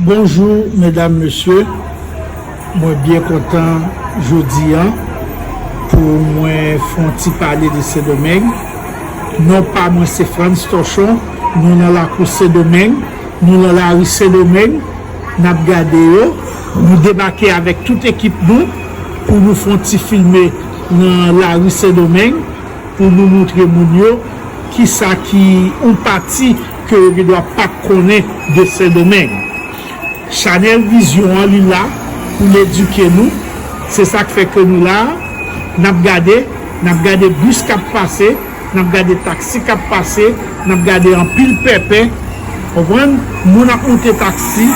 Bonjou medam mesye mwen byen kontan jodi an pou mwen fon ti pale de sedomeng non pa mwen se frans tochon nou nan lakou sedomeng nou nan lari sedomeng Nap gade yo, nou debake avèk tout ekip nou pou nou fon ti filme nan lari sendomeng pou nou moutre moun yo kisa ki yon pati ke yo gendwa pat konnen de sendomeng chanèl vizyon an li la pou l edike nou se sak fè ke nou la nap gade nap gade bis kap pase. n ap gade taksi k ap pase, n ap gade anpil pèpè, ou konprann, moun ap moute taksi,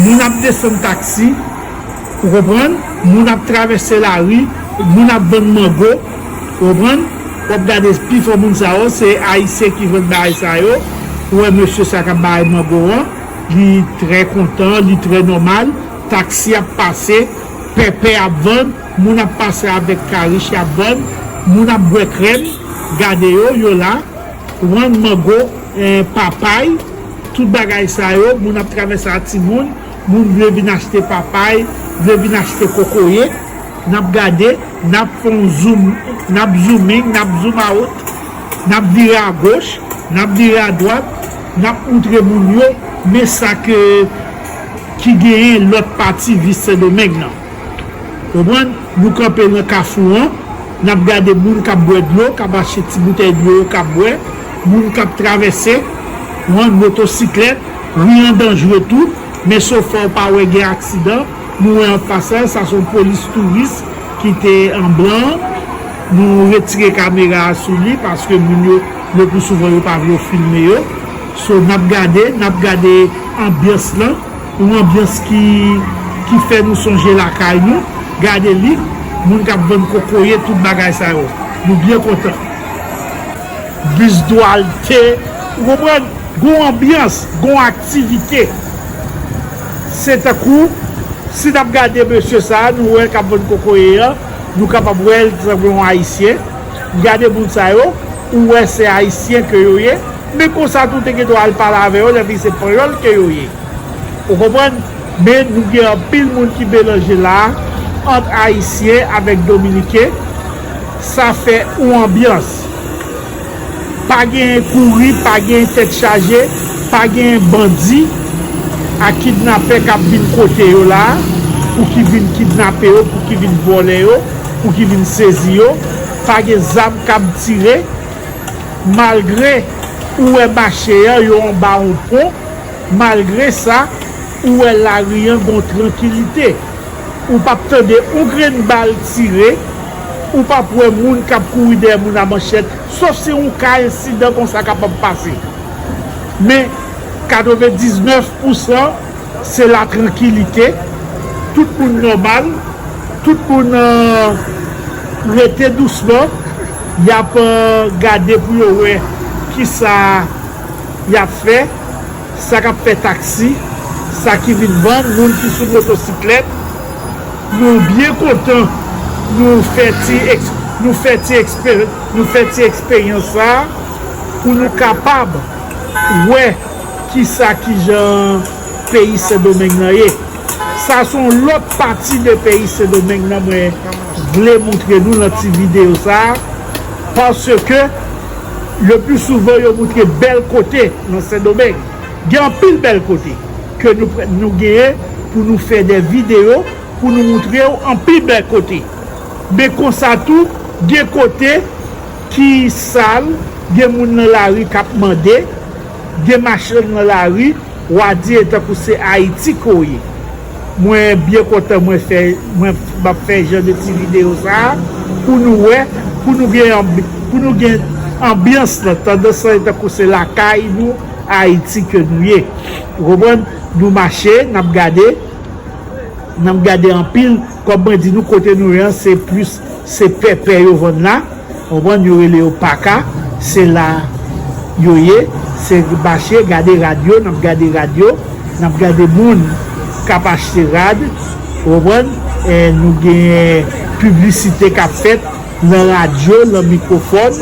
moun ap desann taksi, ou konprann, moun ap travèse lari, moun ap vann mango, ou konprann, w ap gade pi fò moun sa yo se Ayisyen ki vann bagay sa yo, ou wè mesye sa k ap bay mango an, li trè kontan, li trè nòmal, taksi ap pase, pèpè ap vann. Moun ap pase avek karish yap vann moun ap bwe krem gade yo yo la wann mango en papay tout bagay sa yo moun ap travese a timoun moun vle vin achte papay vle vin achte kokoye nap gade nap fon zoom nap zooming nap zoom out nap vire a goch nap vire a dwat nap moutre moun yo men sa ke ki genyen lot pati vice sendomeng nan. Konprann? Nou kanpe nan kafou an, n ap gade moun k ap bwè dlo, k ap achte ti boutèy dlo yo k ap bwè, moun k ap travèse, konprann, motosiklèt, ri an danjre tou, men sofè w pa wè gen aksidan, nou wè an pasaj, sa se yon polis touris ki te an blan an, nou retire kamera a sou li paske moun yo le pou souvan yo pa vle w filme yo, so n ap gade, n ap gade anbyans lan. Yon anbyans ki ki fè nou sonje lakay nou, gade li, moun kap vann kokoye tout bagay sa yo. Nou byen kontan. Bus Duarte, ou konprann? Gon anbyans, gon aktivite. Se tankou si nap gade mesye sa a nou wè kap vann kokoye an, nou kapab wè l sanble yon ayisyen. Gade moun sa yo, ou wè se ayisyen ke yo ye. Men konsa tou te gendwa al pale avè yo epi se panyòl ke yo ye. Ou konprann? Men nou gen anpil moun ki melanje la a ant ayisyen avèk dominiken sa fè yon anbyans. Pa genyen kouri, pa genyen tèt chaje, pa genyen bandi ak kidnapè k ap vin kote yo la a pou ki vin kidnape yo, pou ki vin vòlè yo, pou ki vin sezi yo, pa gen zam k ap tire. malgre ou wè mache an yo anba yon pon, malgre sa, ou wè lari an gon trankilite. Ou pap tande yon grenn bal tire, ou pap wè moun k ap kouri dèyè moun a manchèt, sof si yon ka ensidan konsa kapab pase. Men, 99 pou san se la trankilite, tout moun nòmal, tout moun rete dousman. Y ap gade pou yo wè ki sa y ap fè, sa k ap fè taksi, sa ki vin vann, moun ki sou motosiklèt. Nou byen kontan nou fè ti nou fè ti nou fè ti eksperyans sa a pou nou kapab wè ki sa ki jan peyi Sendomeng nan ye. Sa s on lòt pati de peyi Sendomeng nan mwen vle moutre nou nan ti videyo sa a paske le pli souvan yo moutre bèl kote nan sendomeng gen anpil bèl kote ke nou genyen pou nou fè de videyo pou nou moutre ou anpil bèl kote men konsa tou gen kote ki sal gen moun nan lari kap mande gen machann nan lari wa di etankou se ayiti ke w ye Mwen byen kontan mwen fè mwen map fè jan de ti video sa pou nou wè pou nou gen pou nou gen anbyans lan tandans lan tankou se lakay nou ayiti ke nou ye ou konprann nou mache nap gade nap gade anpil Kòm mwen di nou kote nou ye an se plis se pèpè yo vann la ou konprann yo rele yo paka se la yo ye se mache gade rad yo nap gade rad yo nap gade moun kap achte rad ou konprann nou gen piblisite kap fèt lan radyo lan mikwofòn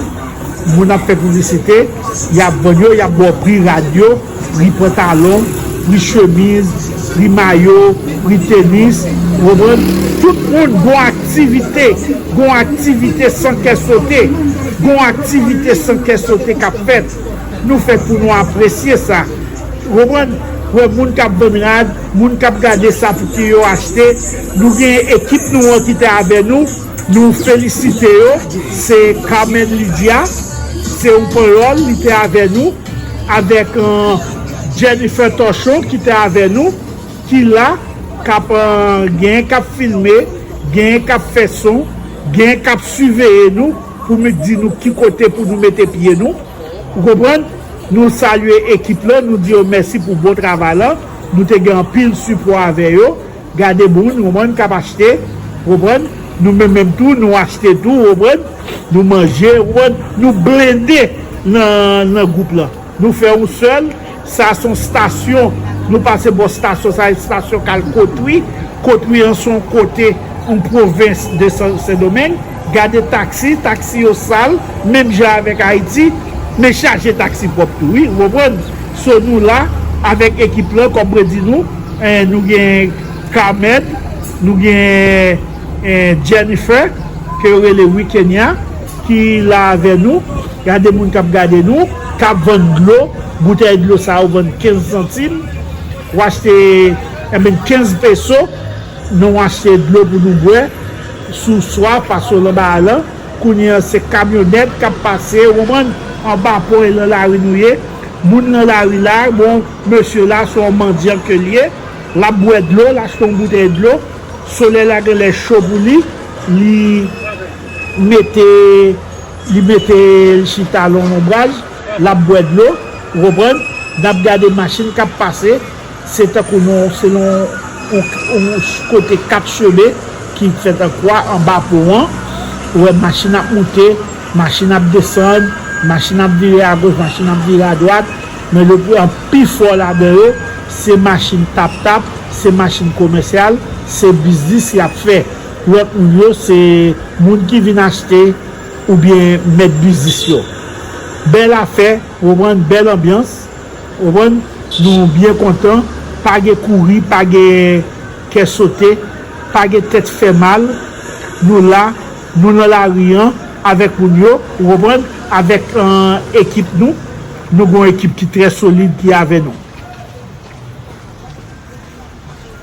moun ap fè piblisite yap vann yo yap ba w pri rad yo. pri pantalon, pri chemiz, pri mayo, pri tenis, ou konprann, tout moun gon aktivite, gon aktivite san kè sote, gon aktivite san kè sote k ap fèt, nou fèt pou nou apresye sa, ou konprann, wè moun k ap vann rad, moun k ap gade sa pou ki yo achte, nou gen ekip nou an ki te avè nou, nou felisite yo, se Carmen Lydia, se yon panyòl li te avè nou. Avèk Jennifer Torchon ki te avè nou, ki la, kap genyen kap filme, genyen kap fè son, genyen kap siveye nou pou nou di nou ki kote pou nou mete pye nou. Ou konprann? Nou salye ekip lan, nou di yo mèsi pou bon travay lan. Nou te gen anpil sipò avè yo. Gade moun ou konprann kap achte ou konprann nou menm menm tou nou achte tou ou konprann nou manje ou konprann nou blende nan nan gwoup lan nou fè yon sèl sa son stasyon nou pase bò stasyon sa e stasyon kal kotwi kotwi an son kote yon pwovens de san sendomeng gade taksi taksi yo sal menm jan avèk ayiti men chaje taksi pwòp tou wi ou konprann. So nou la avèk ekip lan kòm mwen di nou, nou gen Carmen, nou gen Jennifer ke yo rele Wikenya ki la avè nou, gade moun kap gade nou, kap vann dlo, boutèy dlo sa yo vann 15 santim, w achte enben 15 peso nan w achte dlo pou nou bwè sou swa pase w lan ba a lan, kounye an se kamyonèt kap pase ou konprann, anba pon e lan lari nou ye. Moun nan lari la, bon, mesye la se yon mandyan ke l ye, l ap bwè dlo, l achte yon boutèy dlo, solèy la gen lè cho pou li, li mete, li mete l chita lon lonbraj, l ap bwè dlo, ou konprann, n ap gade machin k ap pase. Se tankou yon se yon yon kote 4 cheme ki fèt an kwa anba pon an. Ou wè machin ap moute, machin ap desann, machin ap vire agoch, machin ap vire adwat. Men le pi an pi fò ladan yo se machin tap tap, se machin komèsyal, se biznis y ap fè. Lòt moun yo se moun ki vin achte oubyen mèt biznis yo. Bèl afè, ou konprann, bèl anbyans. Konprann? Nou byen kontan, pa gen kouri, pa gen kè sote, pa gen tèt fè mal, nou la, nou nan lari an avèk moun yo, ou konprann, avèk ekip nou, nou gen yon ekip ki trè solid ki avè nou.